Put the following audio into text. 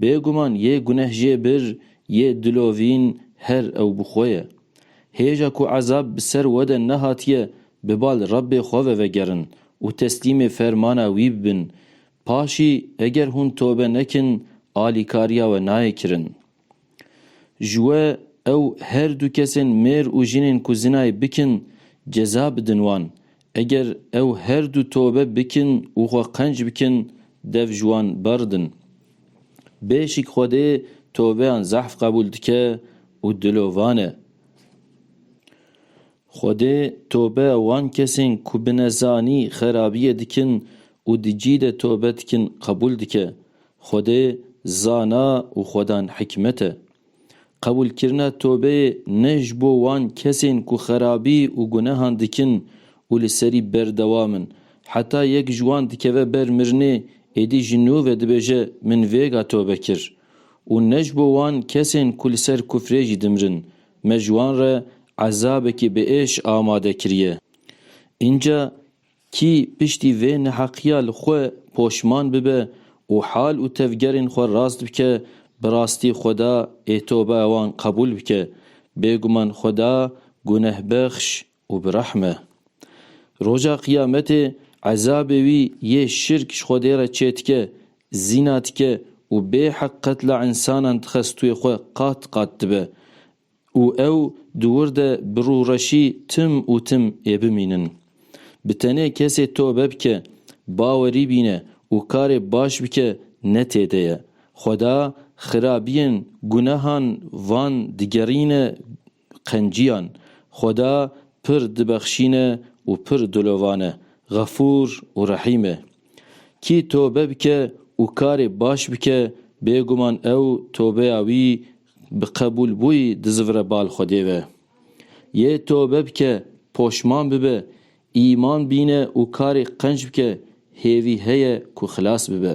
Bêguman yê guneh jê bir, yê dilovîn her ew bi xwe ye. Hêja ku ezab bi ser we de nehatiye, bi bal Rebbê xwe ve vegerin û teslîmê fermana wî bibin. Paşî eger hûn tobe nekin, alîkariya we nayê kirin. Ji we ew her du kesên mêr û jinên ku zinayê bikin, ceza bidin wan, Eger ew her du tobe bikin û xwe qenc bikin dev ji wan berdin. Bêşik Xwedê tobeyan zehf qebûl dike û dilovan e. Xwedê tobeya wan kesên ku bi nezanî xerabiyê dikin û di cî de tobe dikin qebûl dike. Xwedê zana û xwedan hikmet e. Qebûlkirina tobeyê ne ji bo wan kesên ku xerabî û gunehan dikin û li serî berdewam in. Heta yek ji wan dikeve ber mirinê, êdî ji nû ve dibêje min vêga tobe kir. Û ne ji bo wan kesên ku li ser kufrê jî dimirin. Me ji wan re ezabekî biêş amade kiriye. Înca Kî piştî vê neheqiya li xwe poşman bibe û hal û tevgerên xwe rast bike, bi rastî Xweda ê toba wan qebûl bike. Bêguman Xweda gunehbexş û bi rehm e. Roja Qiyametê ezabê wî yê şirk ji Xwedê re çêdike, zîna dike û bêheq qetla însanan dixe stûyê xwe qat qat dibe. Û ew di wir de bi rûreşî tim û tim ê bimînin. Bi tenê kesê tobe bike, bawerî bîne û karê baş bike ne tê de ye. Xweda xirabiyên gunehan van digerîne qenciyan. Xweda pir dibexşîne û pir dilovane, xefûr û rehîm e. Kî tobe bike û karê baş bike, bêguman ew tobeya wî bi qebûlbûyî dizivire bal Xwedê ve. Yê tobe bike, poşman bibe, îman bîne û karê qenc bike, hêvî heye ku xilas bibe.